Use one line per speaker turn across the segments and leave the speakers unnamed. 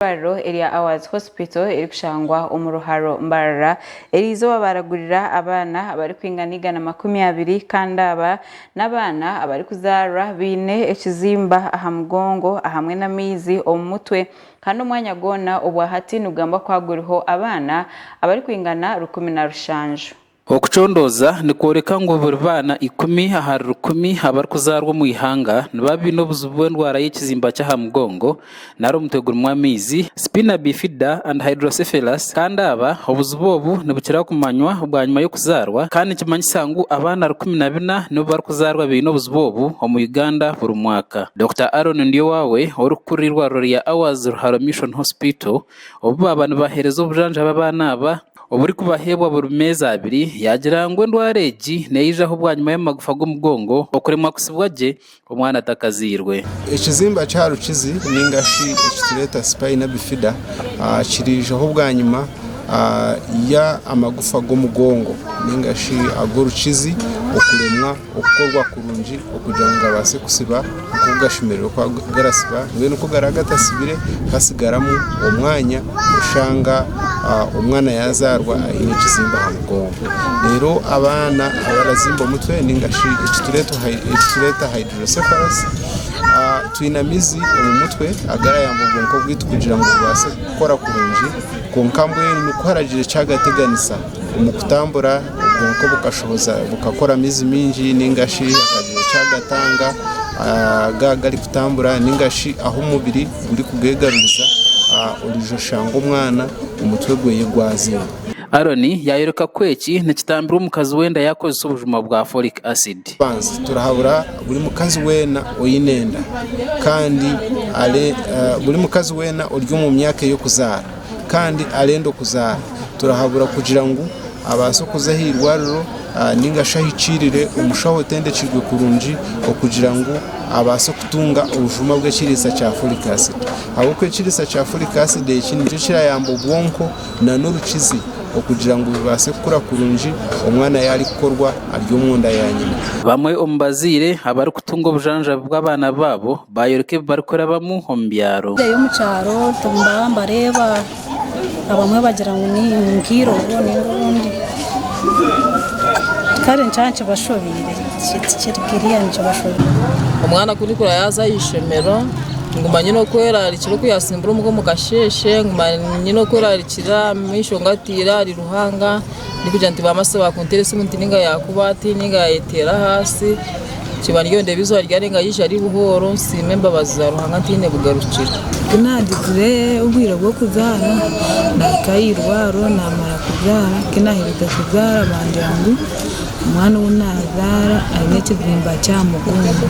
eirwariro erya Awards Hospital erikushangwa omu Ruharo, Mbarara, erizooba baaragurira abaana abarikwingana igana makumi abiri kandi aba n'abaana abarikuzaarwa baine ekizimba aha mugongo ahamwe n'amaizi omu mutwe kandi omwanya gwona obwahati nigugambwa kuba guriho abaana abarikwingana rukumi na rushanju. Okucondooza
nikworeka ngu buri baana ikumi ahari rukumi abarikuzaarwa omu ihanga nibaba baine obuzibu bw'endwara y'ekizimba ky'aha mugongo nari omutwe gurimu amaizi, spina bifida and hydrocephalus, kandi aba obuzibu obu nibukira kumanywa bwanyima y'okuzaarwa kandi nikimanyisa ngu abaana rukumi na bina nibo barikuzaarwa baine obuzibu obu omu Uganda buri mwaka. Dokita Aaron Ndyowawe orikukurira eirwariro rya Hours Ruharo Mission Hospital obu baaba nibaheereza obujanjabi abaana aba, oburikubaheebwa buri meezi abiri, yaagira ngu endwara egi neyijaho bwanyima y'amagufa g'omugongo okuremwa kutsibwa gye omwana atakazairwe. Ekizimba kya
rukizi ninga shi ekitureeta spina bifida kiriijaho bwanyima y'amagufa g'omugongo ninga shi ag'orukizi okuremwa. okukorwa kurungi okugira ngu gabaase kusiba nk'oku gashemereire kuba garasiba mbwenu ku garaba gatasibire hatsigaramu omwanya kushanga omwana yazaarwa aine ekizimba aha mugongo reero abaana abarazimba omutwe ninga shi ekitureeta hydrocephalus twine amizi omu mutwe agarayamba obwonko bwaitu kugira ngu bubaase kukora kurungi kwonka mbwenu kuharagire ekyagateganisa. Omukutambura obwonko bukashohoza bukakora amaizi maingi ningashi akagyera eki agatanga aga garikutambura ningashi ahu omubiri gurikugegaruriza oriija oshanga omwana omutwe gwe gwaziire. Aaron
yaayoreka ku eki nikitambirwa omukazi weena yaakozesa obujuma bwa folic acid. Eky'okubanza turahabura
buri mukazi weena oine enda kandi buri mukazi weena ori omu myaka ey'okuzaara. kandi arenda okuzaara turahabura kugira ngu abaase okuza aha irwariro ninga shi ahikiirire omushaho otendekirwe kurungi okugira ngu abaase kutunga obujuma bw'ekiriisa kya folic acid ahabw'okuba ekiriisa kya folic acid eki nikyo kirayamba obwonko na n'orukizi okugira ngu bubaase kukura kurungi omwana yaari kukorwa ari omunda ya nyina. Bamwe omu bazaire
abarikutunga obujanjabi bw'abaana baabo baayoreka ebi barikurabamu omu byaro. Nindeebayo omu kyaro
nibareeba abamwe bagira ngu ni nk'eirobo nainga obundi kare nikaba nikibashobeire tikiri kiriya nikibashobeire. Omwana ku ndikura
yaaza aha ishomero nguma nyine okweraarikira oku yaatsimbura omuka omu kasheeshe nguma nyine okweraarikira amaisho ngataire ahari Ruhanga ndikugira nti baambaase baakunteera esimu nti nainga yaakuba ati nainga yaayeteera ahansi. Kibariyo ndeeba izooba ryarenga yaija ari buhooro nsiime embabazi za Ruhanga ntaine bugarukiro. Ku naagizire
obwire bw'okuzaara, naahika aha irwaro naamara kuzaara. Ku naaherize kuzaara bangira ngu omwana ou naazaara aine ekizimba ky'aha mugongo,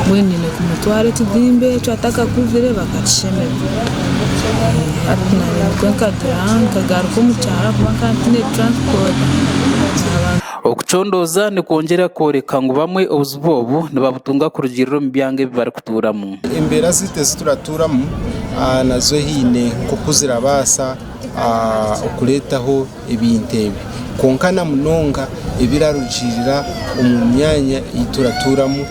mbwenu nyine kumutwara ekizimba ekyo atakakuzire bakakishemeza. Hati nanye nikwo nkagira, nkagaruka omu kyaro ahakuba nkaba ntiine turansipoti. Okucondooza
nikwongyera kworeka ngu bamwe obuzibu obu nibabutunga kurugiirira omu byanga ebi barikutuuramu. Embeera zaitu ezi
turikutuuramu nazo haine nk'oku zirabaasa kureetaho ebintu ebi. Kwonka na munonga ebirarugiirira omu myanya ei turatuuramu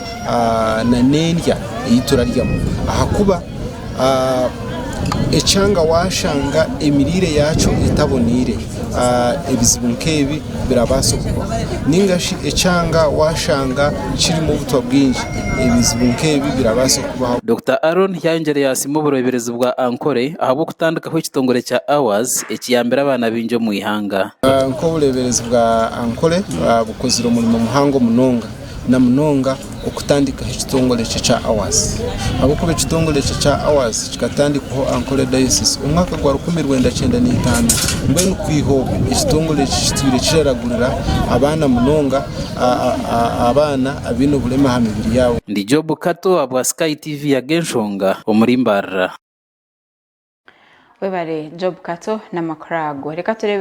n'endya ei turaryamu ahakuba Ekyanga washanga emiriire yaakyo etaboneire ebizibu nk'ebi birabaasa kubaho nainga shi ekyanga washanga kirimu obutwa bwingi ebizibu nk'ebi birabaasa kubaho. Dokita Aron
yayongyire yasiima obureeberezi bwa Ankole ahabw'okutandikaho ekitongore kya Hours ekiyambire abaana baingi omu ihanga. Nk'obureeberezi
bwa Ankole bukozire omurimo muhango munonga. na munonga okutandikaho ekitongore ekyo ekya Awards ahabw'okuba ekitongore ekyo ekya Awards kikatandikwaho Ankole Diocese omu mwaka gwa rukumi rwenda kyenda na itaano. Mbwenu kwiha obu ekitongore eki kitwire kiraragurira abaana munonga abaana abaine oburema aha mibiri yaabo. Ndi Job Kato aha
bwa Sky TV yaga enshonga omuri Mbarara.
Webare
Job
Kato namakuru ago. Reka turebeho.